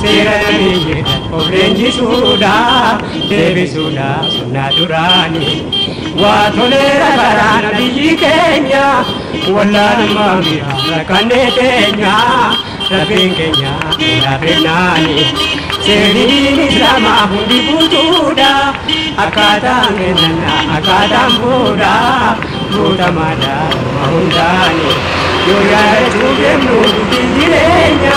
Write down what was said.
Seera namiyyee of leenjisuudha deebisuudha sunnaa duraanii. Waa toleera karaa nabiyyi keenya wallaalummaa mi'a rakkannee teenya rabbiin keenya irraa fennaani. Seerri diin islaamaa hundi guutuudha akkaataan kennannaa akkaataan fuudha guutamaadha dhuma hundaani. Yoo yaadachuu deemnu dubbii jireenya.